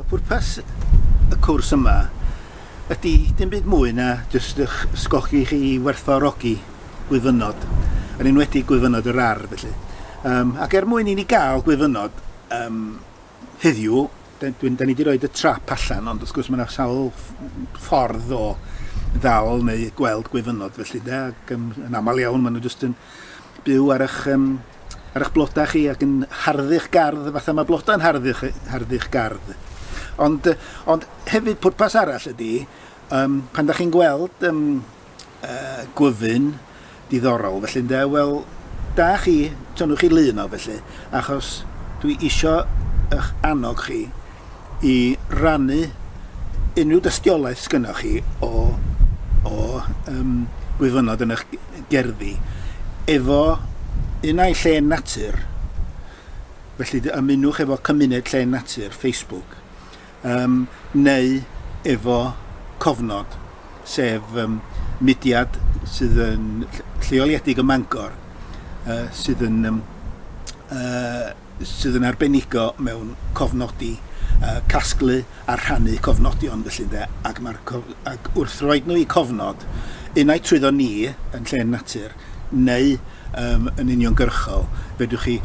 Y pwrpas y cwrs yma ydy dim byd mwy na jyst eich ysgogi chi i werthfawrogi gwyfynod, yn enwedig gwyfynod yr ardd felly. Um, ac er mwyn i ni gael gwyfynod um, Heddiw, da, dwi'n, da ni wedi rhoi y trap allan, ond wrth gwrs mae yna sawl ffordd o ddal neu gweld gwyfynod felly de, ac um, yn aml iawn maen nhw jyst yn byw ar eich, um, ar eich blodau chi ac yn harddu'ch gardd, fatha mae blodau yn harddu'ch harddu gardd. Ond, ond hefyd pwrpas arall ydy, um, pan da chi'n gweld um, uh, gwyfyn diddorol felly ynde, wel da chi, tynnwch chi lun o felly, achos dwi isio eich annog chi i rannu unrhyw dystiolaeth sgynnoch chi o, o um, gwyfynod yn eich gerddi efo un ai lle natur, felly ymunwch efo cymuned lle natur Facebook Ym, neu efo cofnod, sef ym, mudiad sydd yn lleoliedig ym Mangor yy sydd yn ym, yy sydd yn arbenigo mewn cofnodi yy casglu a rhannu cofnodion felly ynde ac ma'r cof- ac wrth roid nhw i cofnod unai trwyddo ni yn Llên Natur neu yym yn uniongyrchol, fedrwch chi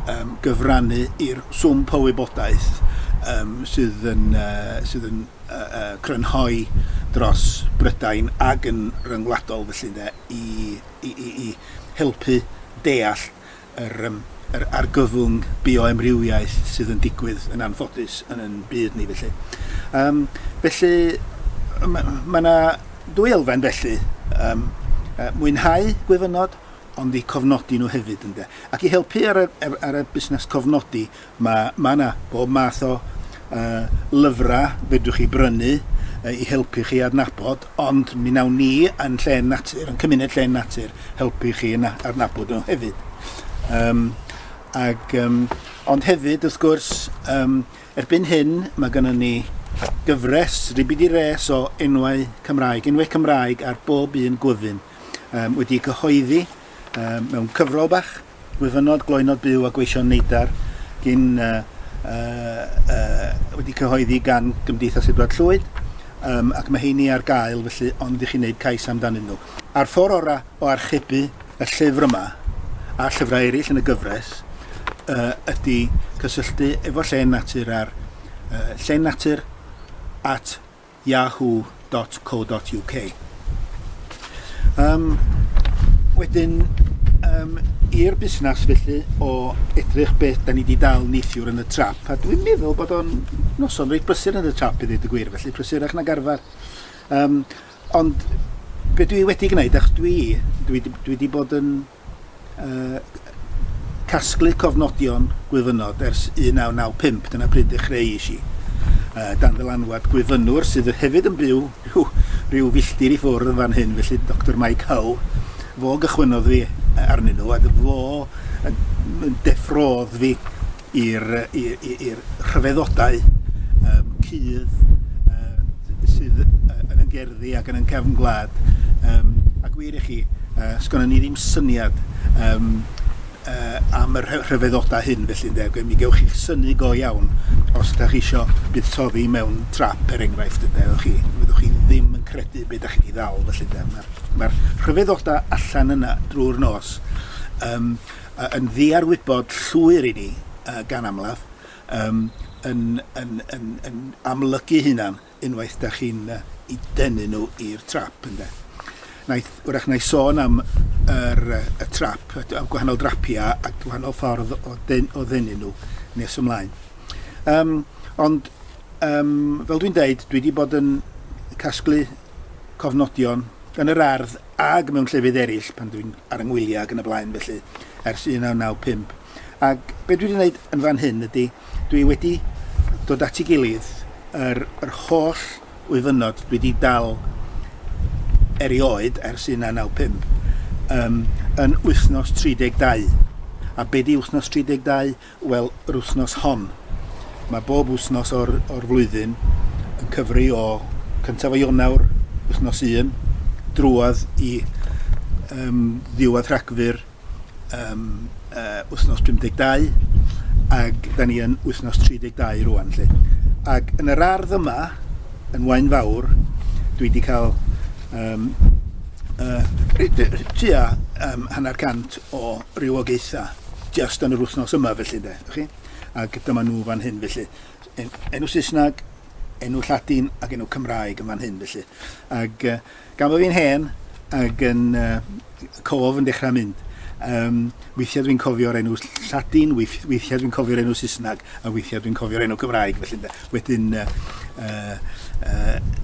yym gyfrannu i'r swmp o wybodaeth yym sydd yn yy sydd yn yy yy crynhoi dros Brydain ag yn ryngwladol felly ynde i i i i helpu deall yr yym yr argyfwng bioamrywiaeth sydd yn digwydd yn anffodus yn yn byd ni felly. Yym felly ma' ma' 'na dwy elfen felly yym yy mwynhau gwyfynod ond i cofnodi nhw hefyd ynde ac i helpu ar y ar y busnes cofnodi Mae 'na bob math o lyfrau fedrwch chi brynu i helpu chi adnabod, ond mi wnawn ni yn Llên Natur, yn Cymuned Llên Natur, helpu chi yn adnabod nhw hefyd. Um, ag, um, ond hefyd, wrth gwrs, um, erbyn hyn mae gennym ni gyfres, ribidi res o enwau Cymraeg, enwau Cymraeg ar bob un gwyfyn, um, wedi cyhoeddi um, mewn cyfrol bach, Gwyfynod gloywnod byw a gweision neidar gin yy wedi cyhoeddi gan Gymdeithas Edward Llwyd yym ac mae heini ar gael felly ond i chi wneud cais amdanyn nhw. A'r ffordd orau o archebu y llyfr yma a llyfrau eraill yn y gyfres yy ydy cysylltu efo Llên Natur ar yy Llên Natur at yahoo dot co dot uk. Yym, wedyn, yym, i'r busnes felly o edrych beth da ni wedi dal neithiwr yn y trap, a dwi'n meddwl bod o'n noson reit brysur yn y trap i ddweud y gwir, felly prysurach nag arfer. Um, ond be dwi wedi gwneud, ach dwi, dwi, dwi wedi bod yn casglu cofnodion gwyfynod ers 1995, dyna pryd ddechreuais i, dan ddylanwad gwyfynwr sydd hefyd yn byw rhyw, rhyw filltir i ffwrdd fan hyn, felly Doctor Mike Howe. Fo gychwynnodd fi arnyn nhw, a fo yn deffrodd fi i'r rhyfeddodau um, cudd uh, sydd uh, yn y gerddi ac yn y cefn gwlad. Um, a gwir i chi, uh, sgwna ni ddim syniad um, uh, am y rhyfeddodau hyn felly ynde, mi gewch chi'ch syni go iawn os ydych chi eisiau buddsoddi mewn trap er enghraifft ynde, ydych chi, fyddwch chi ddim yn credu beth ydych chi wedi ddal felly ynde. Mae'r mae rhyfeddodau allan yna drwy'r nos. Um, yn ddiarwybod llwyr i ni, gan amlaf, yn amlygu hunan unwaith da chi'n eu denu nhw i'r trap, ynde. Wnaeth, wrach wna i sôn am yr, y trap, y gwahanol drapia a gwahanol ffordd o, den, o ddenu nhw nes ymlaen. Um, ond, um, fel dwi'n deud, dwi wedi bod yn casglu cofnodion yn yr ardd ac mewn llefydd eraill pan dwi'n ar 'y ngwyliau ac yn y blaen felly, ers 1995. Ac be' dwi 'di wneud yn fan hyn ydy, dwi wedi dod at ei gilydd yr, yr holl wyfynod dwi 'di dal erioed ers 1995 um, yn wythnos 32. A be' di wythnos 32? Wel, yr wythnos hon. Mae bob wythnos o'r, or flwyddyn yn cyfri o cyntaf o Ionawr, wythnos 1, drwodd i um, ddiwedd Rhagfyr, um, uh, wythnos 52, ac da ni yn wythnos 32 rwan. Lle. Ac yn yr ardd yma, yn Wain Fawr, dwi wedi cael um, uh, tua um, hanner cant o rywogaethau jyst yn yr wythnos yma felly de, chi? Ac dyma nhw fan hyn felly. En, enw Saesneg, enw Lladin ac enw Cymraeg yn fan hyn felly. Ac uh, gan bod fi'n hen ac yn uh, cof yn dechrau mynd, um, weithiau dwi'n cofio'r enw Lladin, weithiau dwi'n cofio'r enw Saesneg. A weithiau dwi'n cofio'r enw Cymraeg felly ynde. Wedyn yy yy yy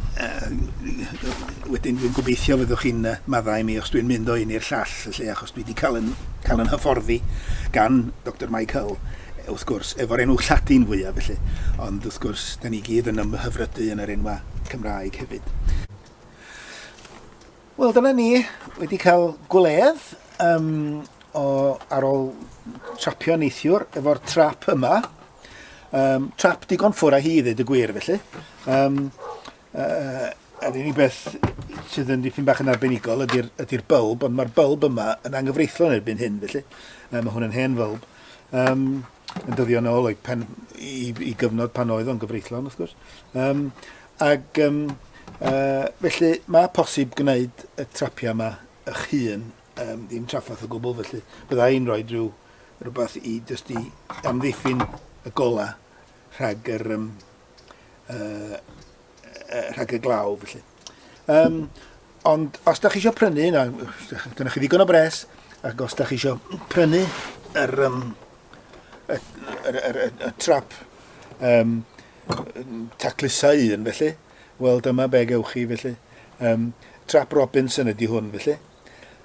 wedyn dwi'n gobeithio fyddwch chi'n yy maddau i mi os dwi'n mynd o un i'r llall felly achos dwi 'di cael yn cael yn hyfforddi gan Doctor Mike Hull wrth gwrs efo'r enw Lladin fwyaf felly ond wrth gwrs 'dan ni gyd yn ymhyfrydu yn yr enwau Cymraeg hefyd. Wel dyna ni, wedi cael gwledd um, o, ar ôl trapio neithiwr efo'r trap yma. Um, trap digon ffwr a hi ddweud y gwir felly. Um, uh, yr unig beth sydd yn dipyn bach yn arbenigol ydy'r ydy bylb, ond mae'r bylb yma yn anghyfreithlon erbyn hyn felly. Um, mae hwn yn hen fylb. Um, yn dyddio yn ôl o'i pen, i, i gyfnod pan oedd o'n gyfreithlon, wrth gwrs. Um, ag, um, uh, felly, mae posib gwneud y trapiau yma eich hun, um, dim traffath o gwbl, felly bydda i'n rhoi rhyw rhywbeth i jyst i amddiffyn y gola rhag yr, um, uh, uh, rhag y glaw, felly. Um, ond os da chi eisiau prynu, na, dyna chi ddigon o bres, ac os da chi eisiau prynu yr, um, y, y, y, y, y trap um, taclusau un, felly, wel, dyma be gewch chi, felly. Um, trap Robinson ydy hwn, felly.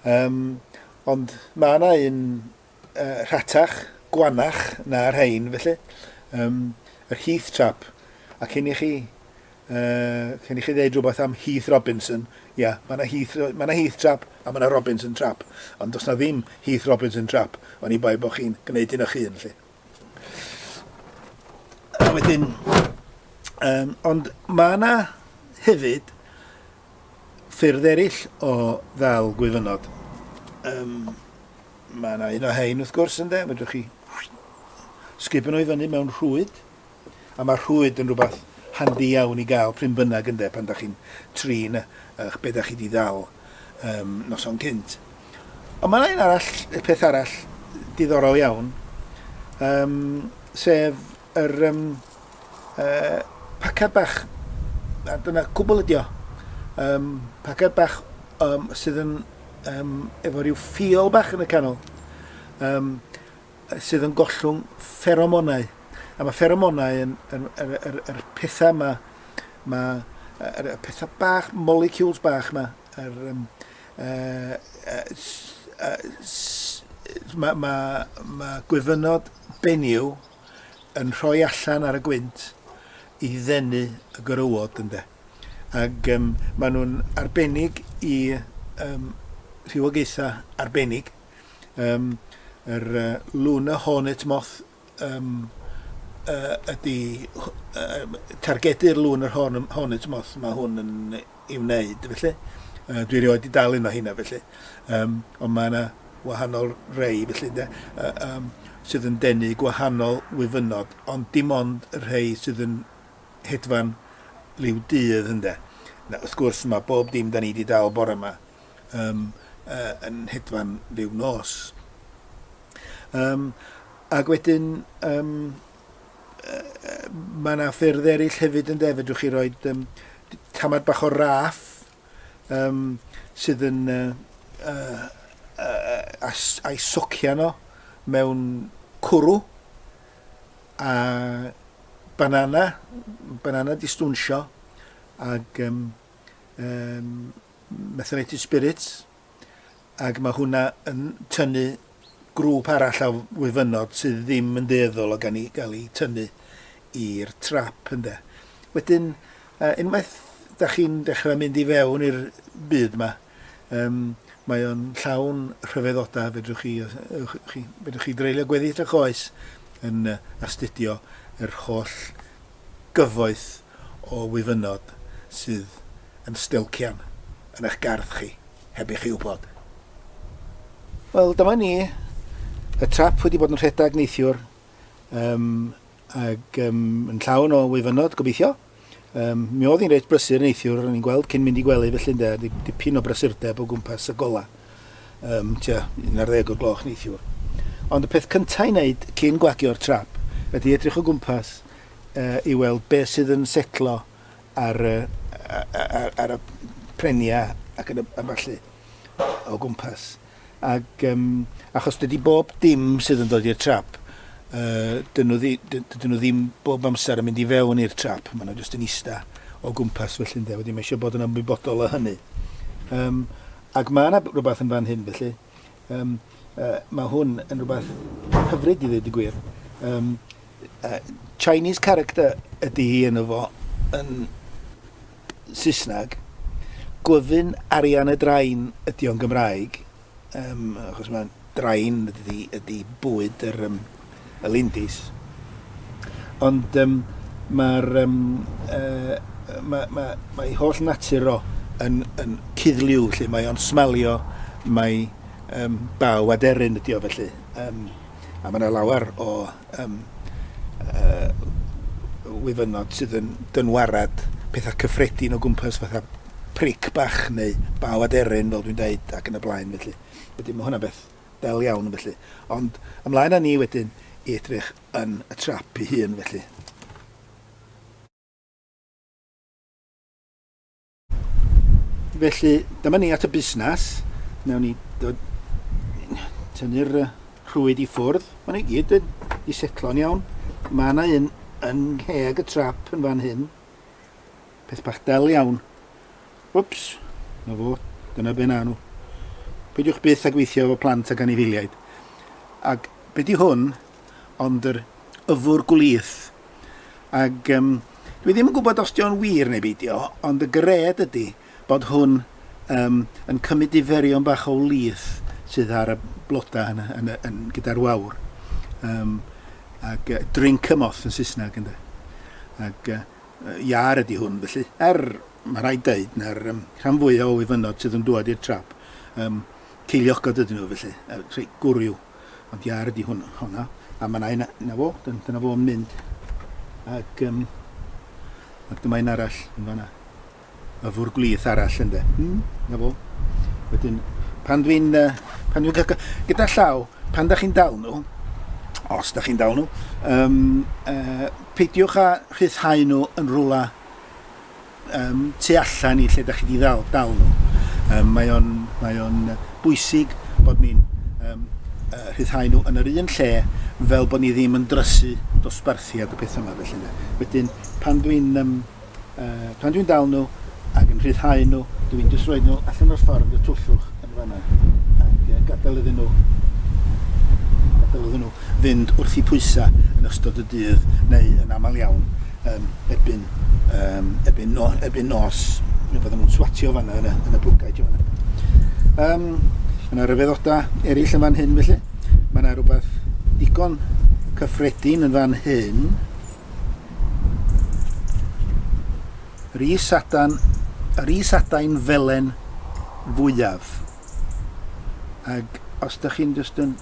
Um, ond mae yna un uh, rhatach, gwanach na'r rhain, felly. Um, yr Heath Trap. A cyn i chi, uh, cyn i chi ddeud rhywbeth am Heath Robinson, ia, yeah, mae yna Heath, ma Heath Trap a mae yna Robinson Trap. Ond does na ddim Heath Robinson Trap, ond i bai bod chi'n gwneud un o'ch hun, lle. A wedyn, um, ond mae yna hefyd ffyrdd eraill o ddal gwyfynod. Um, Mae yna un o rhain wrth gwrs ynde, fedrwch chi sgipio nhw i fyny mewn rhwyd, a mae rhwyd yn rhywbeth handi iawn i gael pryn bynnag ynde, pan da chi'n trin eich be da chi di ddal um, noson cynt. Ond mae yna un arall, peth arall diddorol iawn, um, sef yr um, uh, pacad bach, a dyna cwbl ydi o, um, pacad bach um, sydd yn um, efo rhyw ffil bach yn y canol, um, sydd yn gollwng fferomonau. A mae fferomonau yn, yn, yn, yn, yn, yn pethau yma, mae er, er, pethau bach, molecules bach yma, er, um, uh, uh, mae ma, ma gwyfynod benyw yn rhoi allan ar y gwynt i ddenu y gorywod ynde. Ac um, maen nhw'n arbennig i um, rhywogaethau arbennig. Um, yr uh, Luna Hornet Moth um, uh, ydy uh, targedu'r Luna Hornet Moth. Mae hwn yn i wneud felly. Yy dwi erioed 'di dal un o heina felly. Yym ond mae yna wahanol rei felly ynde? Yy yym sydd yn denu gwahanol wyfynod ond dim ond y rhei sydd yn hedfan liw dydd ynde? Na, wrth gwrs mae bob dim da ni 'di dal bore yma um, uh, yn hedfan liw nos. Um, ac wedyn um, Mae yna ffyrdd eraill hefyd yn de, fedrwch chi roi um, tamad bach o raff um, sydd yn uh, uh, uh, a'i socio nhw mewn cwrw a banana, banana distwnsio ag um, um, methylated spirits ac mae hwnna yn tynnu grŵp arall o wyfynod sydd ddim yn dueddol o gael eu tynnu i'r trap ynde. Wedyn, unwaith da chi'n dechrau mynd i fewn i'r byd yma, um, mae o'n llawn rhyfeddodau, fedrwch chi, chi, fedrwch chi dreulio gweddill eich oes yn astudio yr holl gyfoeth o wyfynod sydd yn stelcian yn eich gardd chi heb i chi wybod. Wel, dyma ni. Y trap wedi bod yn rhedeg neithiwr um, ac um, yn llawn o wyfynod, gobeithio. Um, mi oedd hi'n reit brysur neithiwr, o'n i'n gweld cyn mynd i gwely felly ynde, dipyn o brysurdeb o gwmpas y gola. um, tua 11 o'r gloch neithiwr. Ond y peth cyntaf i wneud cyn gwagio'r trap ydy edrych o gwmpas uh, i weld be sydd yn setlo ar, uh, ar, ar y prenia ac yn y, a falle o gwmpas. Ac, um, achos dydy bob dim sydd yn dod i'r trap uh, dyn, nhw ddi, dyn nhw ddim bob amser yn mynd i fewn i'r trap, maen nhw jyst yn eista o gwmpas felly ynde, wedi mae eisiau bod yn ymwybodol o hynny. Um, Ac mae yna rhywbeth yn fan hyn, felly, yym, yy, mae hwn yn rhywbeth hyfryd i ddweud y gwir. Um, uh, Chinese character ydy hi yn efo yn Saesneg. Glyfyn arian y drain ydy o'n Gymraeg, um, achos mae'n drain ydy, ydy bwyd yr, um, y lindys. Ond um, mae'r um, uh, mae, mae, mae holl natur o yn, yn cuddliw, lle mae o'n smalio, mae um, baw aderyn ydi o felly. Um, a mae yna lawer o um, uh, wyfynod sydd yn dynwarad pethau cyffredin o gwmpas fatha pric bach neu baw aderyn fel dwi'n dweud ac yn y blaen felly. Wedyn mae hwnna beth Bel iawn felly. Ond ymlaen â ni wedyn i edrych yn y trap ei hun felly. Felly, dyma ni at y busnes. Newn ni dod tynnu'r rhwyd i ffwrdd. Mae'n ei gyd yn i setlo'n iawn. Mae yna un yn ngheg y trap yn fan hyn. Peth bach del iawn. Wps, na fo, dyna be na nhw. Peidiwch byth a gweithio efo plant ac anifeiliaid. Ac be di hwn, ond yr yfwr gwlith. Ac um, dwi ddim yn gwybod os di o'n wir neu beidio, ond y gred ydy bod hwn um, yn cymryd diferion bach o wlith sydd ar y blodau yn, yn, yn, yn gyda'r wawr. Um, ac uh, drink a moth yn Saesneg ynddo. Ac uh, iâr ydi hwn felly. Er, mae rhaid dweud, na'r um, rhan fwyaf o wyfynod sydd yn dŵad i'r trap, um, ceiliogod ydyn nhw felly, er, rhai gwrw. Ond iâr ydi hwn, hwnna. A mae yna un, na fo, dyna fo'n mynd. Ac, um, ac dyma un arall yn fanna. y fwr gwlith arall ynde. Mm, na fo. Wedyn, pan dwi'n... Pan dwi'n cael... Gyda llaw, pan da chi'n dal nhw, os da chi'n dal nhw, um, uh, peidiwch â rhyddhau nhw yn rhywle um, tu allan i lle da chi wedi ddal, dal nhw. Um, mae o'n mae on bwysig bod ni'n um, uh, rhyddhau nhw yn yr un lle fel bod ni ddim yn drysu dosbarthiad y pethau yma felly. Wedyn, pan dwi'n um, Uh, pan dwi'n dal nhw ac yn rhyddhau nhw, dwi'n just rhoi nhw allan o'r ffordd y twllwch yn fanna ac uh, gadael iddyn nhw gadael iddyn nhw fynd wrth i pwysau yn ystod y dydd neu yn aml iawn um, ebyn, um, ebyn, no, ebyn nos neu bydden nhw'n swatio fanna yn y, yn y bwgaid fanna. Um, mae yna ryfeddodau eraill yn fan hyn felly. Mae yna rhywbeth digon cyffredin yn fan hyn Rhys Adan, Rhys Adain felen fwyaf. Ac os da chi'n just yn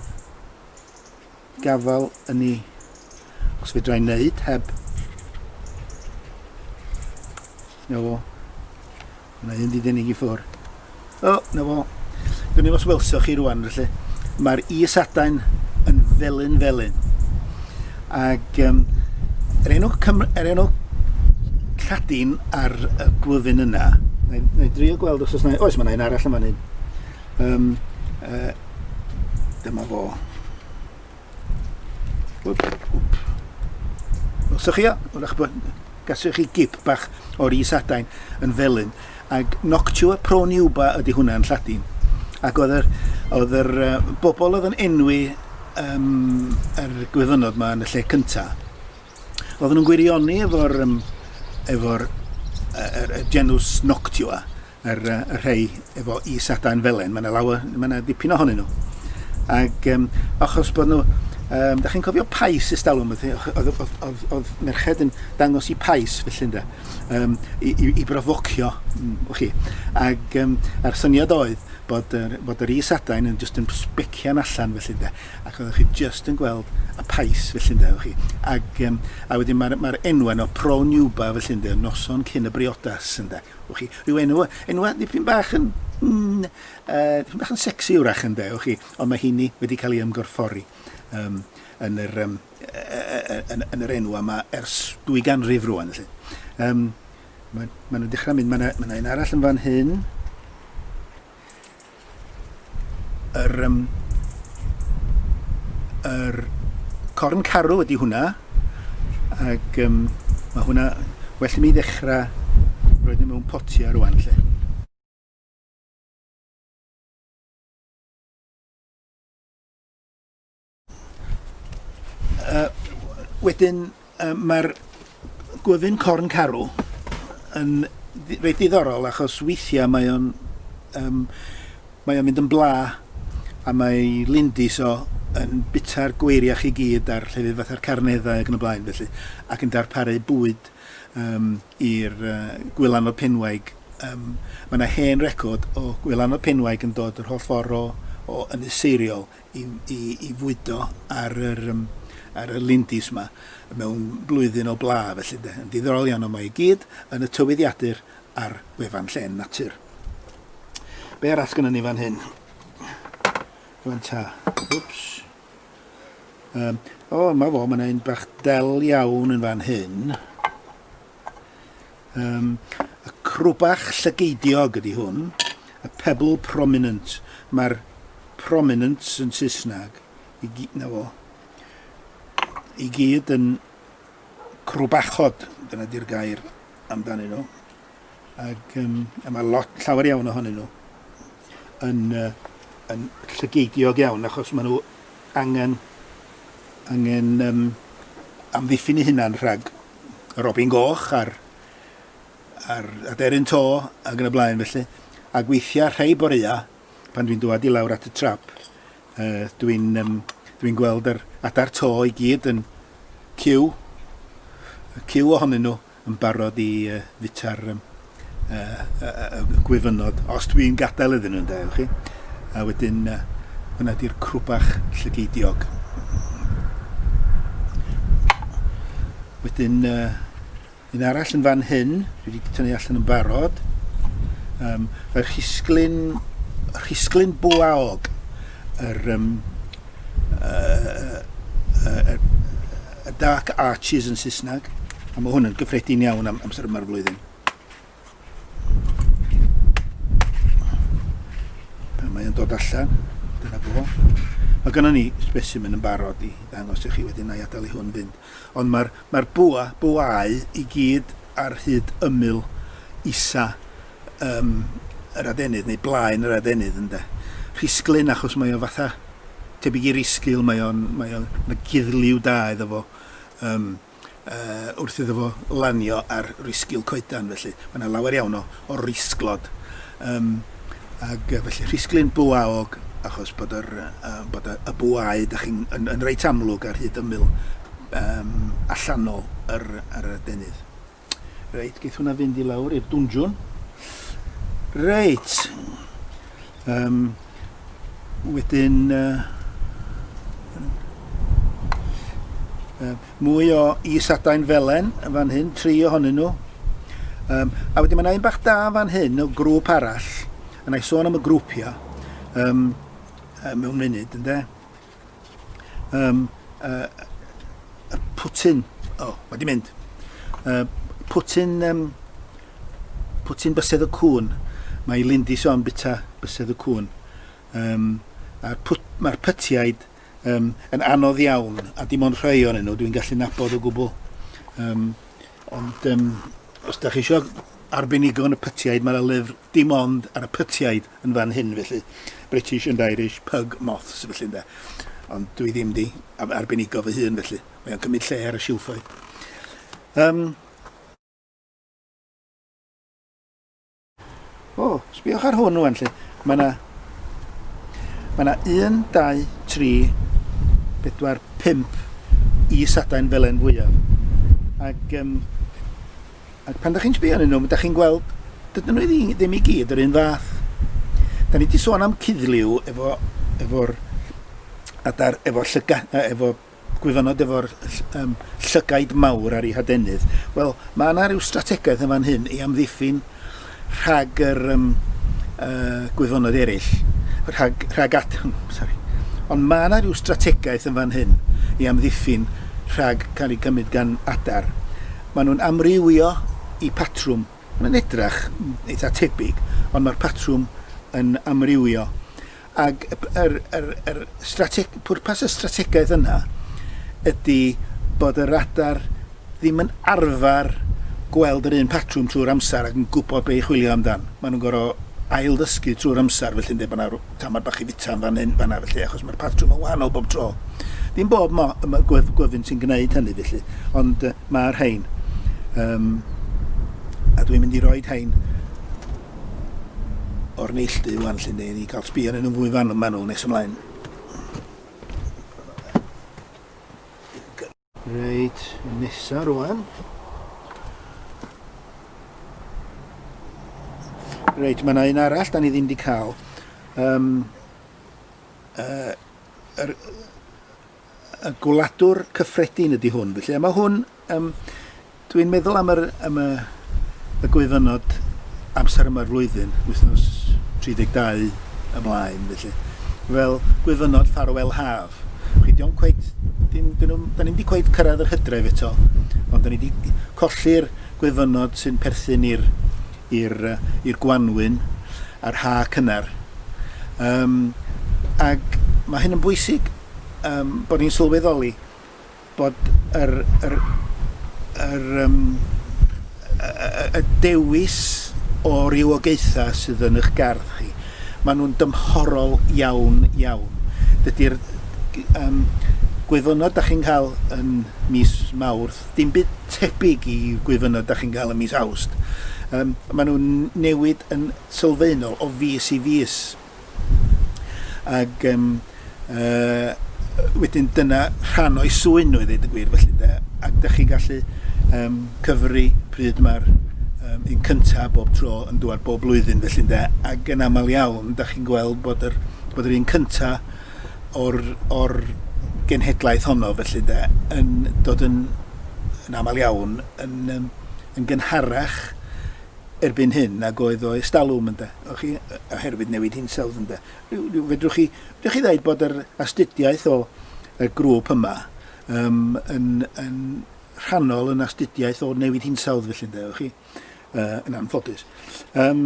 gafael yn ni, os fedra i wneud heb, na fo, Mae hyn wedi denig i ffwr. O, na fo. Dwn i os welsoch chi rwan, felly. Mae'r is adain yn felyn felyn. Ac um, er enw, Cym er enw Lladin ar y glyfyn yna, na i drio gweld os oes yna... Oes, mae yna un arall yn fan hyn. Um, uh, dyma fo. Os ydych chi, wrach bod gaswch chi gip bach o'r isadain yn felyn, ac noctua proniuba ydy hwnna yn Lladin. Ac oedd yr, oedd yr uh, bobl oedd yn enwi um, yr gwyfynod yma yn y lle cyntaf, oedden nhw'n gwirioni efo'r um, efo uh, er, er genws noctua, yr yy y rhei efo is adain felen ma' 'na lawer ma' 'na dipyn ohonyn nhw ag yym achos bod nhw yym 'dach chi'n cofio Pais ers dalwm o'dd o'dd o'dd o'dd o'dd merched yn dangos 'u Pais felly ynde yym i i i brofocio mm, wch chi ag yym a'r syniad oedd bod yr bod yr is adain yn jyst yn sbecian allan felly ynde ac oeddech chi jyst yn gweld y Pais felly ynde wch chi ag yym a wedyn ma'r ma'r enwen o Pro Nuba felly ynde noson cyn y briodas ynde Wch chi, rhyw enw, enwa dipyn bach yn, mm, uh, dipyn bach yn sexy wrach yn de, wch chi, ond mae hynny wedi cael ei ymgorffori um, yn, yr, um, yn, yn yr enw yma ers dwy ganrif rwan. Felly. Um, mae, mae nhw'n dechrau mynd, mae yna ma un arall yn fan hyn. Yr yym yr corn carw ydy hwnna ac um, mae hwnna well i mi ddechrau roed nhw mewn potiau rwan lle. Uh, wedyn, uh, mae'r gwyfyn corn carw yn reit ddiddorol achos weithiau mae o'n um, mae o'n mynd yn bla a mae lindis o yn bita'r gweiriach i gyd a'r llefydd fatha'r carneddau ac yn y blaen felly ac yn darparu bwyd um, i'r uh, gwylan o penwaig um, mae yna hen record o gwylan o penwaig yn dod yr holl ffordd o, o yn seiriol i fwydo ar y lindys yma mewn blwyddyn o bla felly ynde. Yn ddiddorol iawn ond mae i gyd yn y tywyddiadur ar wefan Llên Natur. Be arall sgynnon ni fan hyn? Rwan ta. Wps. Um, o, mae fo, mae yna un bach del iawn yn fan hyn. Um, y crwbach llygeidiog ydy hwn, y pebble prominent. Mae'r prominent yn Saesneg, i gyd, na fo, i gyd yn crwbachod, dyna di'r gair amdanyn nhw. Ac um, a mae lot, llawer iawn ohonyn nhw, yn, uh, yn llygeidiog iawn, achos maen nhw angen, angen um, amddiffyn i hunan rhag y robin goch a'r, a'r aderyn to ac yn y blaen felly. Ac weithiau rhai boreau, pan dwi'n dwad i lawr at y trap, uh, dwi'n um, dwi gweld yr adar to i gyd yn cyw, y cyw ohonyn nhw yn barod i uh, fita'r um, y gwyfynod, os dwi'n gadael iddyn nhw, ynde, chi? A wedyn, hwnna di'r crwbach llygeidiog. Wedyn, uh, un arall yn fan hyn, dwi wedi tynnu allan yn barod. Um, Mae'r rhisglyn, rhisglyn bwaog, yr, um, uh, uh, uh, Y Dark Arches yn Saesneg, a mae hwn yn gyffredin iawn am amser yma'r flwyddyn. Pan mae'n dod allan, dyna fo. Mae gynnon ni specimen yn barod i ddangos i chi wedyn na i adael i hwn fynd. Ond mae'r mae bwa, bwau i gyd ar hyd ymyl isa um, yr adenydd, neu blaen yr adenydd, ynde. Rhisglyn, achos mae o fatha tebyg i risgil, mae o'n, mae o'n, mae guddliw da iddo fo, um, uh, wrth iddo fo lanio ar risgil coedan, felly mae yna lawer iawn o, o risglod. Um, ac felly rhisglyn bwaog, achos bod, yr, uh, bod y, y bwau da chi'n yn, yn reit amlwg ar hyd ymyl um, allanol yr, yr adenydd. Reit, geith hwnna fynd i lawr i'r dwnjwn. Reit. Um, wedyn... Uh, Um, mwy o is-adain felen yn fan hyn, tri ohonyn nhw. Um, a wedyn mae yna un bach da yn fan hyn o grŵp arall, a na i sôn am y grwpiau um, mewn munud, ynddo? Um, uh, y pwtyn. O, oh, mae di mynd. Uh, pwtyn, um, pwtyn bysedd y cwn. Mae Lindy son bita bysedd y cwn. Um, Mae'r pwt, ma pytiaid um, yn anodd iawn, a dim ond rhai o'n nhw, dwi'n gallu nabod o gwbl. Um, ond um, os da chi eisiau arbenigo yn y pytiaid, mae'r lyfr dim ond ar y pytiaid. yn fan hyn felly. British and Irish pug moths felly ynde. Ond dwi ddim di arbenigo fy hun felly. Mae o'n cymryd lle ar y silffoedd. Um, o, oh, sbiwch ar hwn rwan lle. Mae yna Mae yna 1, 2, 3, 4, 5 i sadain felen fwyaf. Ac um, Ac pan 'da chi'n sbio arnyn nhw, 'da chi'n gweld, dydyn nhw i ddim i gyd yr un fath. Da ni wedi sôn am cuddliw efo, efo'r adar, efo llyga, efo gwyfynod efo'r um, llygaid mawr ar ei hadenydd. Wel, mae yna rhyw strategaeth yn fan hyn i amddiffyn rhag yr um, uh, gwyddonod eraill, rhag, rhag at... Sorry. Ond mae yna rhyw strategaeth yn fan hyn i amddiffyn rhag cael ei gymryd gan adar. Maen nhw'n amrywio i patrwm. Mae'n edrach eitha tebyg, ond mae'r patrwm yn amrywio. Ac yr, yr, yr strateg- pwrpas y strategaeth yna ydy bod y radar ddim yn arfer gweld yr un patrwm trwy'r amser ac yn gwybod be' i chwilio amdan. Ma' nhw'n gor'o' ailddysgu trwy'r amser felly'n deud bo' 'na rw- tamad bach i fita yn fan hyn, fan 'na felly achos ma'r patrwm yn wahanol bob tro. Dim bob mo- yy ma' gwef- gwyfyn sy'n gneud hynny felly, ond yy ma'r rhein. Yym a dwi'n mynd i roid rhein o'r neilldu ŵan 'lly ynde, i ni ga'l sbio arnyn nhw'n fwy fan- manwl nes ymlaen. Reit, nesa rwan. Reit, mae yna un arall da ni ddim wedi cael. Um, uh, er, y gwladwr cyffredin ydy hwn. Felly, a mae hwn, um, dwi'n meddwl am, yr, am y, y gwyfynod amser yma'r flwyddyn, wythnos 32 ymlaen, felly, fel gwyfynod ffarwel haf. Chi, diolch cweith, dyn, dyn, dyn ni'n di cweith cyrraedd yr hydref eto, ond dyn ni wedi colli'r gwyfynod sy'n perthyn i'r i'r i'r gwanwyn a'r ha cynnar. Um, ac mae hyn yn bwysig yym bod ni'n sylweddoli bod yr yr yr yym y y y dewis o rywogaetha sydd yn 'ych gardd chi, ma' nhw'n dymhorol iawn iawn. Dydi'r g- yym gwyfynod 'dach chi'n cael yn mis Mawrth dim byd tebyg i gwyfynod 'dach chi'n cael yn mis Awst. Yym ma' nhw'n newid yn sylfaenol o fis i fis. Ac um, uh, wedyn dyna rhan o'i swy'n nhw i ddweud y gwir felly de. Ac da chi gallu um, cyfri pryd mae'r um, un cyntaf bob tro yn dŵad bob blwyddyn felly de. Ac yn aml iawn, da chi'n gweld bod yr, bod yr un cyntaf o'r, or genhedlaeth honno felly de, yn dod yn, yn aml iawn yn, um, yn gynharach erbyn hyn nag oedd o estalwm ynde. Ych chi, oherwydd newid hinsawdd ynde. Rhyw, rhyw, fedrwch chi, fedrwch chi ddeud bod yr astudiaeth o y grŵp yma um, yn, yn rhannol yn astudiaeth o newid hinsawdd felly ynde, chi, uh, yn anffodus. Um,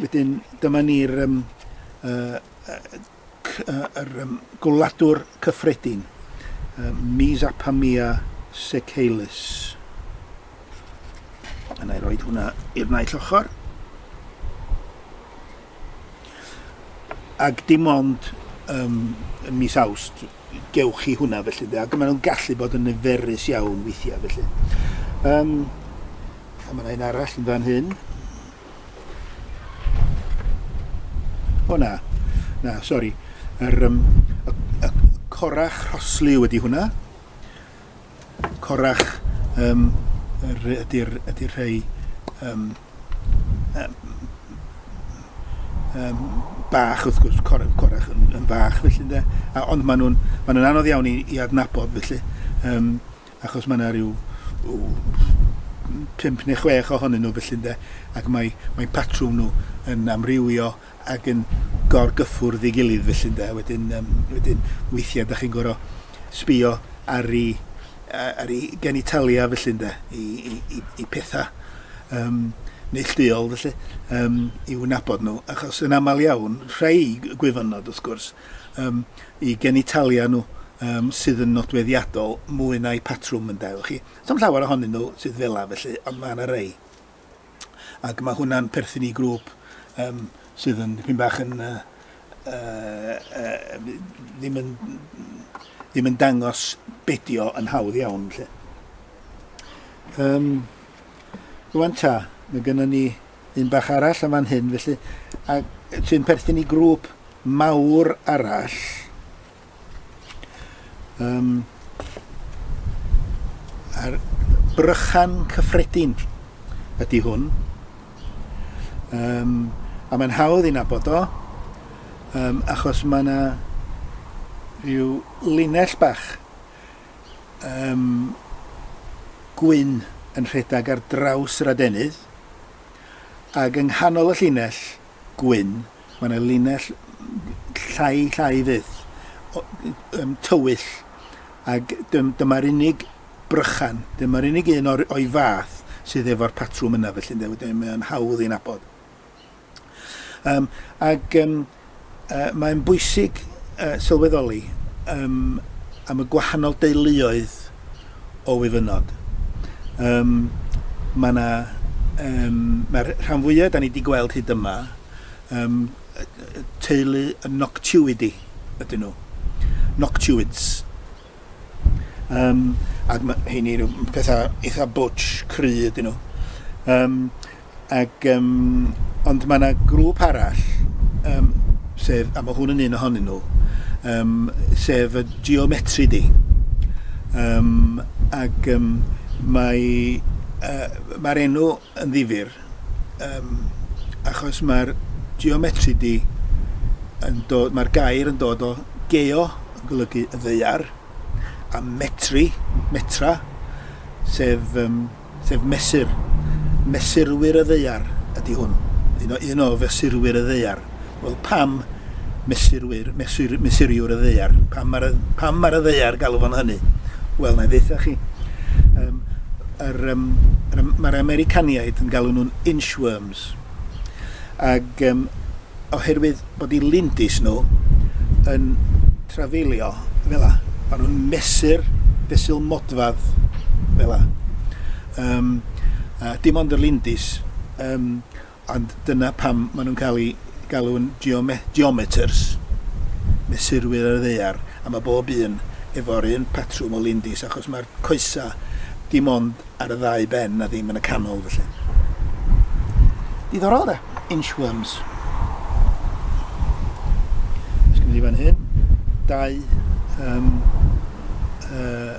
wedyn, dyma ni'r um, uh, yr gwladwr cyffredin, Mesopotamia Seychelles. Yna i roed hwnna i'r naill ochr. Ac dim ond um, mis awst gewch chi hwnna felly, de, ac maen nhw'n gallu bod yn niferus iawn weithiau felly. Um, a mae yna un arall yn fan hyn. O na, na, sori. Yr, um, y, y corach rhoslu wedi hwnna. Corach um, ydy'r ydy rhai um, um, um, bach, wrth gwrs, cor, corach yn, yn fach, felly, de. A, ond maen nhw'n ma nhw anodd iawn i, i adnabod, felly. Um, achos mae yna rhyw pump neu chwech ohonyn nhw felly ynde, ac mae, mae patrwm nhw yn amrywio ac yn gorgyffwrdd ei gilydd felly ynde, wedyn, um, wedyn weithiau da chi'n gorau sbio ar ei, ar ei genitalia felly ynde, i, i, i, i pethau um, neillduol felly, um, i wnabod nhw, achos yn aml iawn, rhai gwyfynod wrth gwrs, um, i genitalia nhw um, sydd yn nodweddiadol mwy na'i patrwm yn dail chi. Sam llawer ohonyn nhw sydd fela felly, ond mae yna rei. Ac mae hwnna'n perthyn i grŵp um, sydd yn pyn bach yn... Uh, uh, uh, ddim yn ddim yn dangos bedio yn hawdd iawn. Lle. Um, rwan ta, mae gennym ni un bach arall yn fan hyn felly, a sy'n perthyn i grŵp mawr arall. Um, a'r brychan cyffredin ydy hwn. Um, a mae'n hawdd i'n abod o, um, achos mae yna rhyw linell bach um, gwyn yn rhedeg ar draws yr adenydd, ac yng nghanol y llinell gwyn mae yna linell llai llai fyth, um, tywyll, ac dyma'r unig brychan, dyma'r unig un o'i fath sydd efo'r patrwm yna, felly ynde, wedyn mae o'n hawdd i'n abod. Um, ac um, uh, mae'n bwysig uh, sylweddoli um, am y gwahanol deuluoedd o wyfynod. Um, mae yna, um, mae'r rhan fwyaf, da ni wedi gweld hyd yma, um, teulu y noctiwidi ydyn nhw. Noctiwids. Um, ac mae hynny nhw pethau eitha bwtch, cry ydyn nhw. Um, ac, um, ond mae yna grŵp arall, um, sef, a mae hwn yn un ohonyn nhw, um, sef y geometri di. Um, ac um, mae uh, mae'r enw yn ddifyr um, achos mae'r geometri di yn dod, mae'r gair yn dod o geo yn golygu y ddeiar a metri, metra, sef, um, sef mesur. Mesurwyr y ddeiar ydy hwn, un o, un o fesurwyr y ddeiar. Wel, pam mesurwyr, mesur, mesuriwr y ddeiar? Pam mae'r pam mae'r ddeiar galw fo'n hynny? Wel, na i ddeitha chi. Um, yr, um, mae'r Americaniaid yn galw nhw'n inchworms. Ac um, oherwydd bod i lindys nhw yn trafeilio fel la, maen nhw'n mesur fesul modfad fel la. Um, a dim ond y lindys, um, Ond dyna pam maen nhw'n cael eu galw'n geometers, mesurwyr ar y ddaear, a mae bob un efo'r un patrwm o lindys, achos mae'r coesau dim ond ar y ddau ben a ddim yn y canol felly. Diddorol de, inchworms. Ysgwyd i fan hyn, dau um, uh,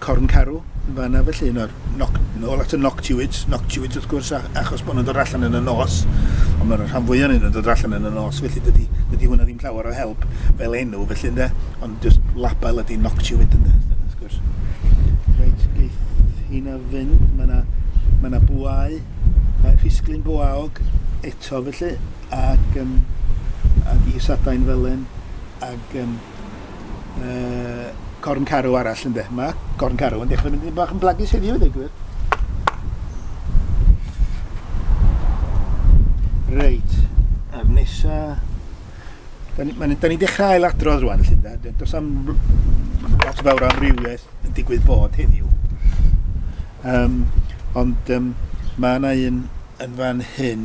Corn Carw, yn fan 'na felly, un o'r noc- nôl at y noctiwyd, noctiwyd wrth gwrs, a- achos bod nhw'n dod allan yn y nos, ond mae'r rhan fwyaf ohonyn nhw'n dod allan yn y nos, felly dydy, dydy hwnna ddim llawer o help fel enw, felly ynde, ond jyst label ydy noctiwyd ynde, wrth gwrs. Reit, geith hynna fynd, mae yna ma na bwau, uh, rhisglyn bwaog eto felly, ac, um, ac is adain felen, ac um, uh, corn carw arall ynde. Mae corn carw yn dechrau mynd yn bach yn blagus heddiw, ddweud gwir. Reit, a'r nesa... Da ni, da ni dechrau ail adrodd rwan, lle da. Does am lot o fawr amrywiaeth yn digwydd fod heddiw. Um, ond um, mae yna un yn fan hyn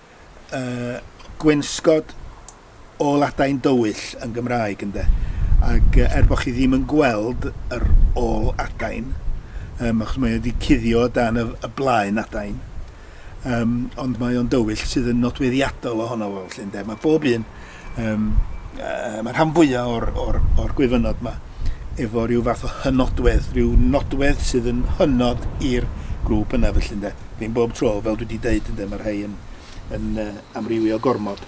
y gweinsgod ôl adain dywyll yn Gymraeg ynde ac er bod chi ddim yn gweld yr ôl adain um, achos mae wedi cuddio dan y, y blaen adain um, ond mae o'n dywyll sydd yn nodweddiadol ohono fo felly ynde mae bob un Um, uh, mae rhan fwyaf o'r, or, or gwyfynod yma efo rhyw fath o hynodwedd, rhyw nodwedd sydd yn hynod i'r grŵp yna felly ynde. Ddim bob tro, fel dwi wedi dweud ynde, mae rhai yn, yn uh, amrywio gormod.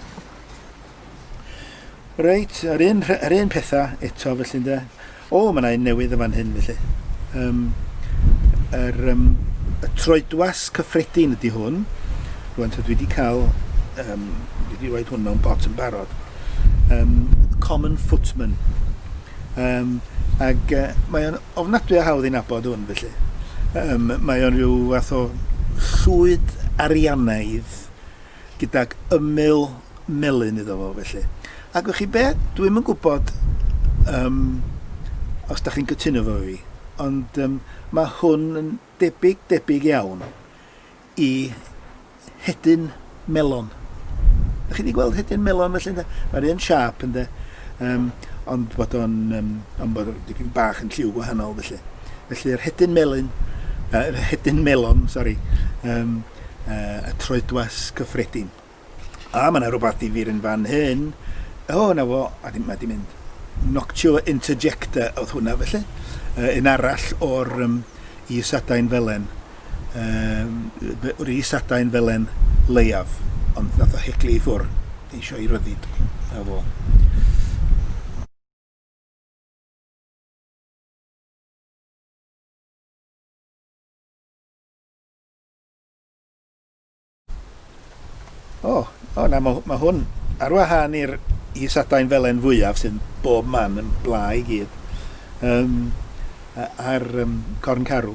Reit, yr un, yr un pethau eto felly ynde. O, mae 'na un newydd yn fan hyn, felly. Um, yr, um, y troedwas cyffredin ydy hwn. Rwan, dwi wedi cael... Um, dwi wedi rhoi hwn mewn pot yn barod. Um, common footman. Um, ac uh, mae o'n ofnadwy o hawdd i'n abod hwn, felly. Um, mae o'n rhyw fath o llwyd arianaidd gydag ymyl melyn iddo fo felly. Ac wch chi be'? Dwi'm yn gwybod um, os da chi'n cytuno fo fi, ond um, mae hwn yn debyg, debyg iawn i hedyn melon. Da chi wedi gweld hedyn melon felly, ynda? Mae'r un siap, ynda? Um, ond bod o'n um, ond bod dipyn bach yn lliw gwahanol felly. Felly yr hedyn melyn, uh, hedyn melon, sori, um, y troedwas cyffredin. A, mae yna rhywbeth difyr yn fan hyn. O, na fo, a di, mae di mynd. Noctio interjecta oedd hwnna, felly. Uh, un arall o'r um, isadau'n felen. Um, o'r isadau'n felen leiaf, ond nath o heglu i ffwr, eisiau i ryddid. Na fo. O, o na, mae, mae hwn ar wahân i'r i sadain felen fwyaf sy'n bob man yn bla i gyd. Um, a'r um, corn carw.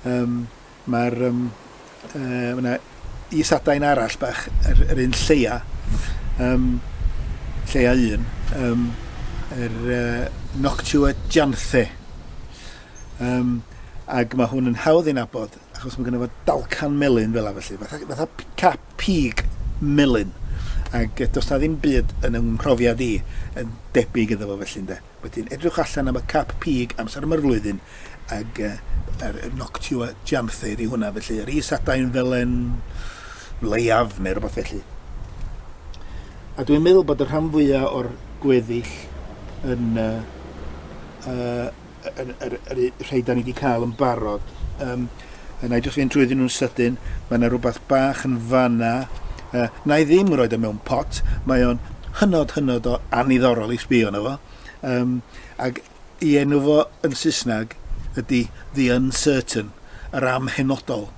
Um, Mae'r um, uh, yna i sadain arall bach, yr, yr un lleia, um, lleia un, um, yr uh, Noctua Janthe. Um, ac mae hwn yn hawdd i'n abod. achos mae gynno fo dalcan melyn fel yna felly, fatha, fatha cap pig melyn. Ac does na ddim byd yn yng mhrofiad i yn debyg iddo fo felly ynde. Wedyn edrych allan am y cap pig amser yma'r flwyddyn ac uh, er, noctua janther i hwnna felly. Yr is adain felen leiaf neu rhywbeth felly. A dwi'n meddwl bod y rhan fwyaf o'r gweddill yn uh, uh, yr, yr, yr, y rhai da ni wedi cael yn barod. Um, na i jyst fynd trwy ddyn nhw'n sydyn. Mae yna rhywbeth bach yn fanna. Uh, na i ddim roed o e mewn pot. Mae o'n hynod, hynod o aniddorol i sbio yna fo. Um, ac i enw fo yn Saesneg ydy The Uncertain, yr amhenodol,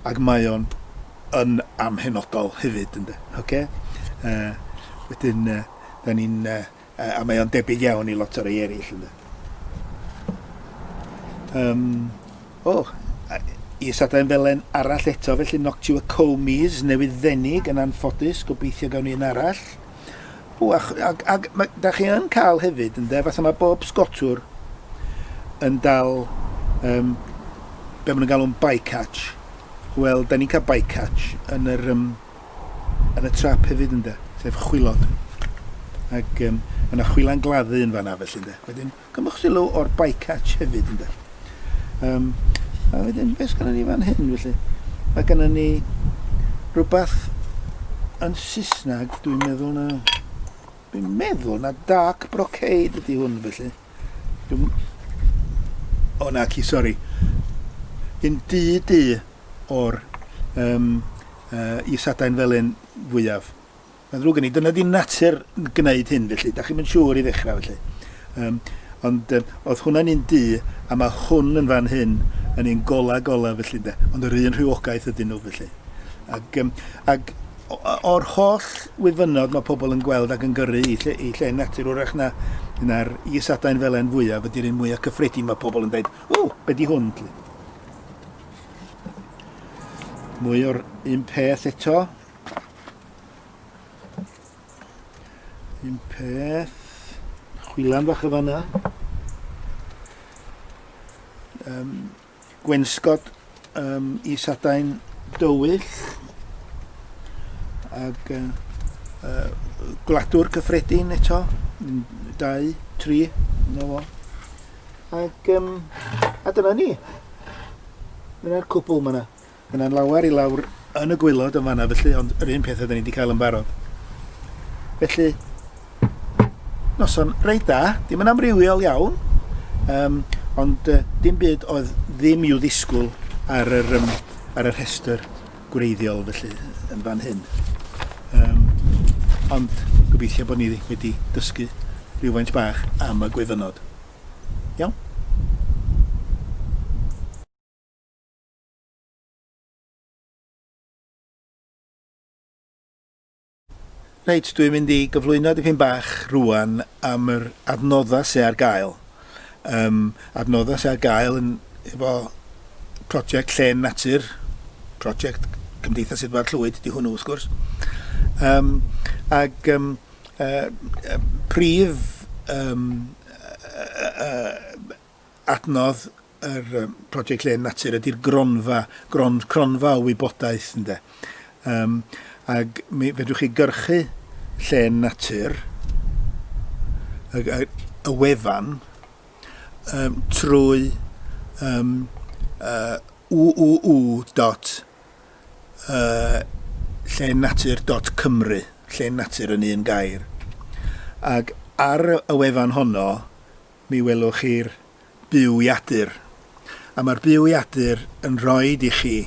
ac mae o'n yn amhenodol hefyd, ynddo. Okay? Uh, wedyn, uh, da ni'n uh, A mae o'n debyg iawn i lot o rei eraill, ynde. Yym, o, is adain felen arall eto, felly Noctua comes, newydd ddenig, yn anffodus, gobeithio gawn ni un arall. O, ac, ac, ac mae, da chi yn cael hefyd, ynde, fatha mae bob sgotwr yn dal um, be maen nhw'n galw'n bycatch. Wel, da ni'n cael bycatch yn yr um, yn y trap hefyd ynde, sef chwilod. Ag yym ma' 'na chwilan gladdu yn fan'na felly ynde. Wedyn cymwch sylw o'r bycatch hefyd ynde. Yym a wedyn be' sgynnon ni fan hyn felly? Mae gynnon ni rhywbeth yn Saesneg dwi'n meddwl na dwi'n meddwl na dark brocade ydy hwn felly. Dw'm... O, naci, sori. Yn du du o'r um, uh, isadau'n felyn fwyaf. Mae'n ddrwg gen i, dyna di natur yn gwneud hyn felly, da chi'n mynd siŵr i ddechrau felly. Um, ond um, oedd hwnna'n un du, a mae hwn yn fan hyn yn un gola gola felly de, ond yr un rhywogaeth ydyn nhw felly. Ac, um, ac o'r holl wyfynod mae pobl yn gweld ac yn gyrru i lle, i lle natur wrach na na'r is-adain felen fwyaf ydy'r un mwyaf cyffredin mae pobl yn dweud, o, be di hwn? Mwy o'r un peth eto. Un peth. Chwilan fach y fanna. Um, gwensgod um, is adain dywyll ag uh, uh, gwladwr cyffredin eto, dau, tri, na fo. Ac, um, a dyna ni. Dyna'r cwbl yma. Mae 'na lawer i lawr yn y gwaelod yn fanna felly ond yr un peth oedden ni 'di cael yn barod. Felly noson reit da, dim yn amrywiol iawn, um, ond uh, dim byd oedd ddim i'w ddisgwyl ar yr, um, ar y rhestr gwreiddiol felly yn fan hyn. Um, ond gobeithio bod ni wedi dysgu rhywfaint bach am y gwyfynod. Iawn? Reit, dwi'n mynd i gyflwyno dipyn bach rwan am yr adnoddau sydd ar gael. Um, adnoddau sydd ar gael yn efo prosiect Llen Natur, prosiect Cymdeithas Edward Llwyd, di hwnnw wrth gwrs. Um, ac um, uh, prif um, uh, uh, adnodd yr um, prosiect Len Natur ydy'r gronfa, gron, cronfa o wybodaeth, ynde. Um, ac mi fedrwch chi gyrchu Len Natur, y, y, y wefan, um, trwy um, uh, uuu dot uh, llenatur.cymru, llenatur yn un gair. Ac ar y wefan honno, Mi welwch chi'r buwyadur, a mae'r buwyadur yn rhoi i chi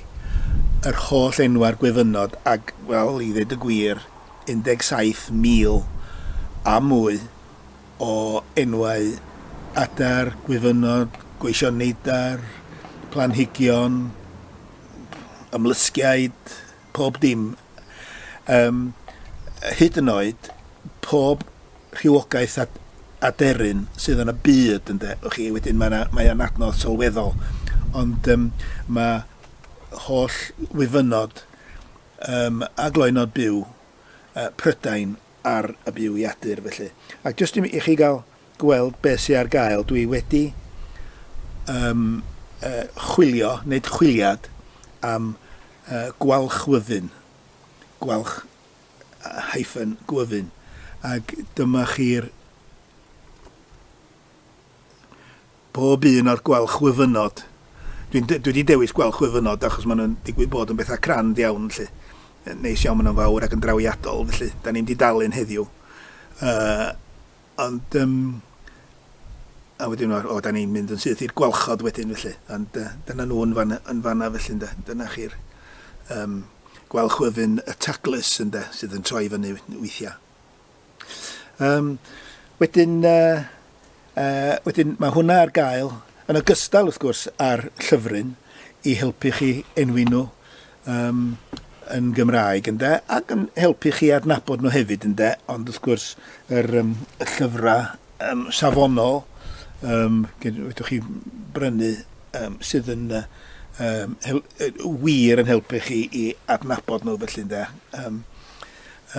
yr holl enwau a'r gwyfynod, ac, wel, i ddweud y gwir, 17,000 a mwy o enwau adar, gwyfynod, gweision neidar, planhigion, ymlusgiaid. pob dim, yym, hyd yn oed pob rhywogaeth a a deryn sydd yn y byd, ynde, o'ch chi, wedyn mae 'na mae o'n adnodd sylweddol, ond yym ma' holl wyfynod yym a gloynod byw yy Prydain ar y byw iadur felly. Ac jyst i mi- i chi gael gweld beth sy ar gael. Dwi wedi um, uh, chwilio, wneud chwiliad am uh, gwalchwyfyn. Gwalch hyphen gwyfyn. Ac dyma chi'r bob un o'r gwalchwyfynod. Dwi, dwi wedi dewis gwalchwyfynod achos maen nhw'n digwydd bod yn bethau crand iawn, felly. Neis iawn, maen nhw'n fawr ac yn drawiadol, felly. Da ni'n di dalun heddiw. Uh, Ond yym a wedyn o o 'dan ni'n mynd yn syth i'r gwalchod wedyn felly ond yy dyna nhw yn fan yy yn fan'na felly ynde? Dyna chi'r yym gwal chwyfyn y taglys ynde sydd yn troi fyny weithia'. Yym wedyn yy yy wedyn ma' hwnna ar gael yn ogystal wrth gwrs â'r llyfryn i helpu chi enwi nhw Yym, yn Gymraeg, ynde? Ac yn helpu chi adnabod nhw hefyd, ynde? Ond wrth gwrs, yr, um, y llyfrau um, safonol, um, wydwch chi brynu, um, sydd yn uh, um, hel, uh, wir yn helpu chi i adnabod nhw, felly, ynde? Um,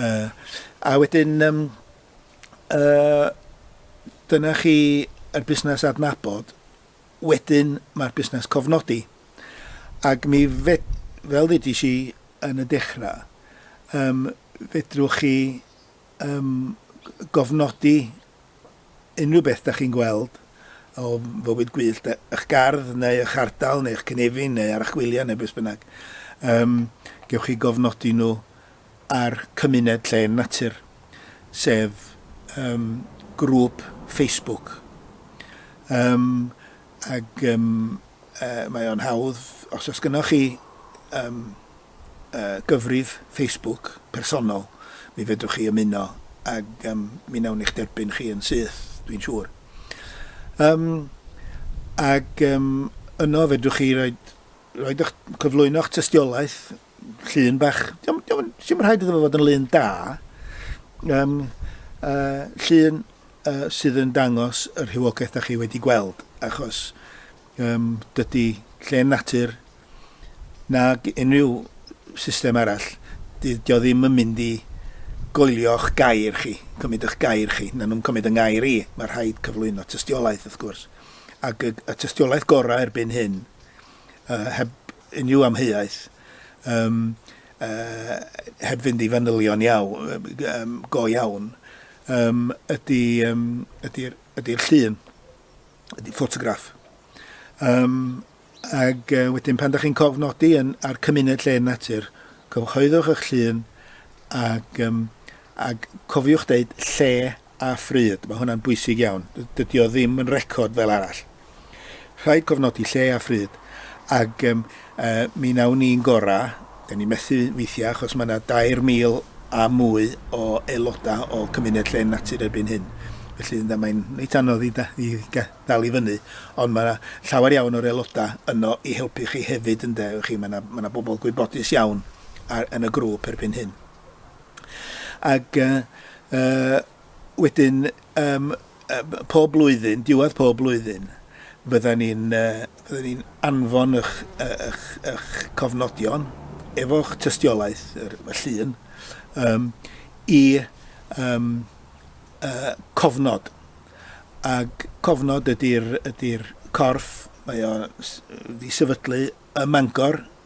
uh, a wedyn, um, uh, dyna chi y busnes adnabod, Wedyn mae'r busnes cofnodi. Ac mi fed-, fel ddeudis i yn y dechrau, yym, fedrwch chi, yym, gofnodi unrhyw beth dach chi'n gweld o fywyd gwyllt, e- y'ch gardd neu y'ch ardal neu'ch cynefin neu archwiliad neu beth bynnag. Yym, gewch chi gofnodi nhw a'r cymuned Llên Natur, sef yym grŵp Facebook. Yym ag yym yy mae o'n hawdd, os oes gynnoch chi yym yy gyfrif Facebook personol, mi fedrwch chi ymuno ag yym mi nawn i'ch derbyn chi yn syth, dwi'n siŵr. Yym ag yym yno fedrwch chi roid roid 'ych cyflwyno'ch tystiolaeth Llun bach, diom, diom, diom rhaid iddo fod yn lun da. Um, uh, llun uh, sydd yn dangos y rhywogaeth da chi wedi gweld, achos um, dydy lle natur na unrhyw system arall, dydy o ddim yn mynd i goelio'ch gair chi, cymryd eich gair chi, na nhw'n cymryd yng ngair i, mae rhaid cyflwyno tystiolaeth wrth gwrs. Ac y, y tystiolaeth gorau erbyn hyn, uh, heb unrhyw amheuaeth, yym, yy, heb fynd i fanylion iawn, yym, go iawn, yym, ydy, yym, ydy'r ydy llun, ydy ffotograff. Um, ac uh, wedyn pan da chi'n cofnodi yn, ar cymuned lle natur, cyhoeddwch eich llun ac, um, ac cofiwch deud lle a phryd, mae hwnna'n bwysig iawn. Dydy o ddim yn record fel arall. Rhaid cofnodi lle a phryd, ac um, uh, mi nawn ni'n gora, da ni methu weithiau achos mae yna 2,000 a mwy o aelodau o cymuned lle'n natur erbyn hyn. Felly da, mae'n reit anodd i, da, i dal i fyny, ond mae yna llawer iawn o'r aelodau yno i helpu chi hefyd, ynde, chi, mae yna, mae yna bobl gwybodus iawn ar, yn y grŵp erbyn hyn. Ac yy yy wedyn yym yy pob blwyddyn, diwedd pob blwyddyn, fyddan ni'n yy fyddan ni'n anfon ych yy ych ych cofnodion efo'ch tystiolaeth, yr y llun, yym i yym yy cofnod. Ag cofnod ydi'r ydi'r corff, mae o'n s- yy 'di sefydlu ym Mangor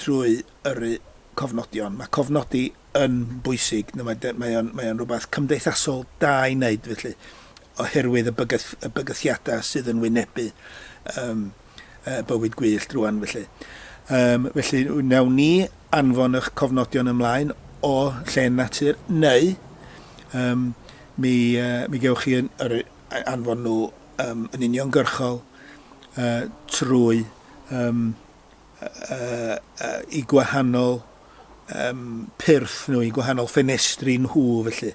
trwy yrru cofnodion. Mae cofnodi yn bwysig, mae mae o'n mae o'n rhywbeth cymdeithasol da i wneud felly, oherwydd y bygyth- y bygythiadau sydd yn wynebu um, uh, bywyd gwyllt rwan felly. Um, felly wnawn ni anfon eich cofnodion ymlaen o lle natur neu um, mi, uh, mi gewch chi yn, yr, anfon nhw um, yn uniongyrchol uh, trwy um, eu gwahanol pyrth nhw, eu gwahanol ffenestri nhw felly.